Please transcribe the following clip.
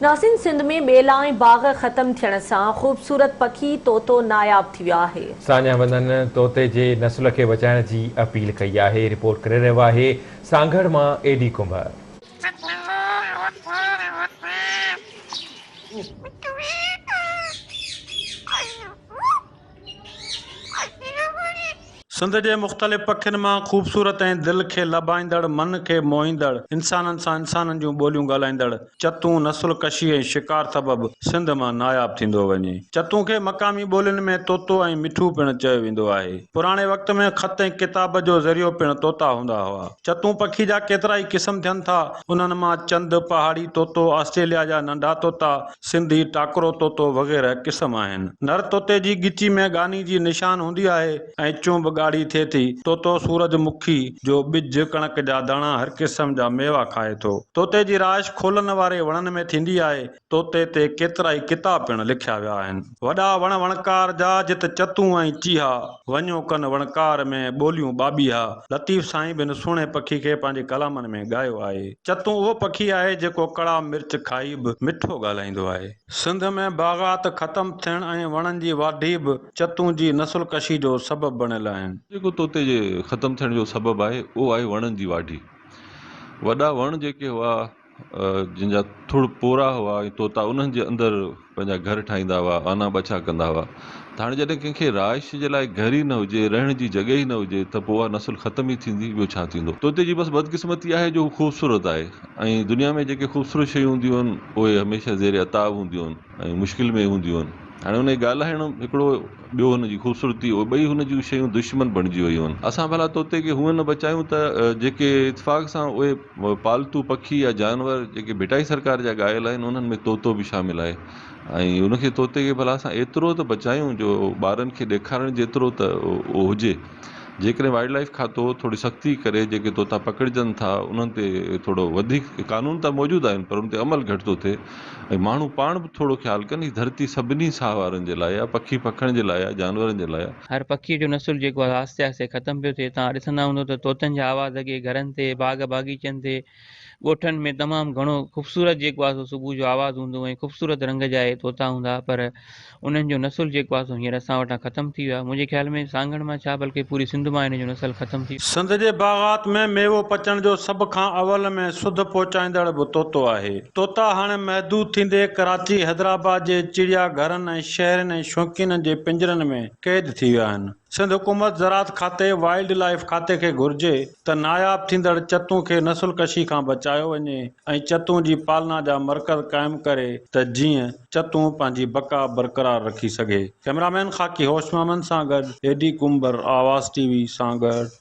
ناسين سنڌ ۾ ٻيلا ۽ باغ ختم ٿيڻ سان خوبصورت پکي طوطو ناياب ٿي ويو آهي. ساڃاهه وندن طوطي جي نسل کي بچائڻ جي اپيل ڪئي آهي، رپورٽ ڪري رهيو آهي سانگهڙ مان اي ڊي ڪنڀر. سنڌ جي مختلف پکين مان خوبصورت ۽ دل کي لڀائيندڙ، من کي موهيندڙ، انسانن سان انسانن جون ٻوليون ڳالهائيندڙ چتون نسل ڪشي ۽ شڪار سبب سنڌ مان ناياب ٿيندو وڃي. چتون کي مقامي ٻولين ۾ طوطو ۽ مٺو پڻ چيو ويندو آهي. پراڻي وقت ۾ خط ۽ ڪتاب جو ذريعو پڻ طوطا هوندا هئا. چتون پکي جا ڪيترائي قسم ٿين ٿا. انهن مان چند، پهاڙي طوطو، آسٽريليا جا ننڍا طوطا، سنڌي، ٽاڪرو طوطو وغيره قسم آهن. نر طوطي جي ڳچي ۾ ڳاني جي نشان هوندي آهي ۽ چونب ڳاڙهي ٿئي ٿي. طوطو سورج مکي جو ٻج، ڪڻڪ جا داڻا هر قسم جا ميوا کائي ٿو. طوطي جي رهائش کولن واري وڻن ۾ ٿيندي آهي. طوطي تي ڪيترائي ڪتاب پڻ لکيا ويا آهن. وڏا وڻ وڻڪار جا جت چتون ۽ چيها. وڃو ڪن وڻڪار ۾ ٻوليون ٻاٻيها لطيف سائين به ان سهڻي پکي کي پنهنجي ڪلامن ۾ ڳايو آهي. چتون اهو پکي آهي جيڪو ڪڙا مرچ کائي به مٺو ڳالهائيندو آهي. سنڌ ۾ باغات ختم ٿيڻ ۽ وڻن جي واڍي به چتون جي نسل ڪشي جو سبب بڻيل آهن. جيڪو توتي جي ختم ٿيڻ جو سبب آهي اهو آهي وڻن جي واڍي. وڏا وڻ جيڪي هئا. جن جا ٿڙ پورا هئا ۽ طوطا انهن جي اندر پنهنجا گهر ٺاهيندا هئا، آنا ٻڇا ڪندا هئا ته هاڻي جڏهن ڪنهن کي رهائش جي لاء گهر ئي نه هجي، رهڻ جي جڳهه ئي نه هجي ته پوء اها نسل ختم ئي ٿيندي، ٻيو ڇا ٿيندو؟ طوطي جي بس بدقسمتي آهي جو هو خوبصورت آهي ۽ دنيا ۾ جيڪي خوبصورت شيون هونديون آهن، اهي هميشه زير عتاب هونديون آهن. ۽ مشڪل ۾ هونديون هن هاڻي هن کي ڳالهائڻ هڪڙو ٻيو هن جي خوبصورتي اهو ٻئي هن جون شيون دشمن بڻجي ويون هن اسان ڀلا طوطي کي هونئن نه بچايون ته جيڪي اتفاق سان اهي پالتو پکي يا جانور جيڪي ڀٽائي سرڪار جا ڳايل آهن انهن ۾ طوطو به شامل آهي ۽ هن کي طوطي کي ڀلا اسان ايترو ته بچايون جو ٻارن کي ڏيکارڻ جيترو ته اهو هجي جيڪڏهن وائلڊ لائيف کاتو ٿوري سختي ڪري جيڪي طوطا پڪڙجن ٿا انهن تي ٿورو وڌيڪ قانون ته موجود آهن پر ان تي عمل گهٽ ٿو ٿئي ۽ ماڻهو پاڻ به ٿورو خيال ڪن هي ڌرتي سڀني ساهه وارن جي لاء آهي پکي پکڻ جي لاء آهي جانورن جي لاء هر پکي جو نسل جيڪو آهي آهستي آهستي ختم پيو ٿئي توهان ڏسندا هوندو ته طوطن جا آواز اڳي گهرن تي باغ باغيچن تي ڳوٺن ۾ تمام گهڻو خوبصورت جيڪو آهي سو صبح جو آواز هوندو ۽ خوبصورت رنگ جا اهي طوطا هوندا ها پر انهن جو نسل جيڪو آهي سو هينئر اسان وٽان ختم ٿي ويو آهي منهنجي خيال ۾ سانگهڙ مان ڇا بلڪه پوري سنڌ مان هن جو نسل ختم ٿي سنڌ جي باغات ۾ ميوو پچڻ جو سڀ کان اول ۾ سڌ پهچائيندڙ به طوطو آهي طوطا هاڻي محدود ٿيندي ڪراچي حيدرآباد جي چڙيا گهرن ۽ شهرين ۽ شوقينن جي پنجرن ۾ قيد ٿي ويا آهن. سنڌ حڪومت زراعت کاتي وائلڊ لائيف کاتي کي گهرجي ته ناياب ٿيندڙ چتون کي نسل ڪشي کان بچايو وڃي ۽ چتون جي پالنا جا مرڪز قائم ڪري ته جيئن چتون پنهنجي بقا برقرار رکي سگهي ڪئميرا مين خاڪي هوش محمد سان گڏ اي ڊي ڪنڀر آواز ٽي وي سان گڏ.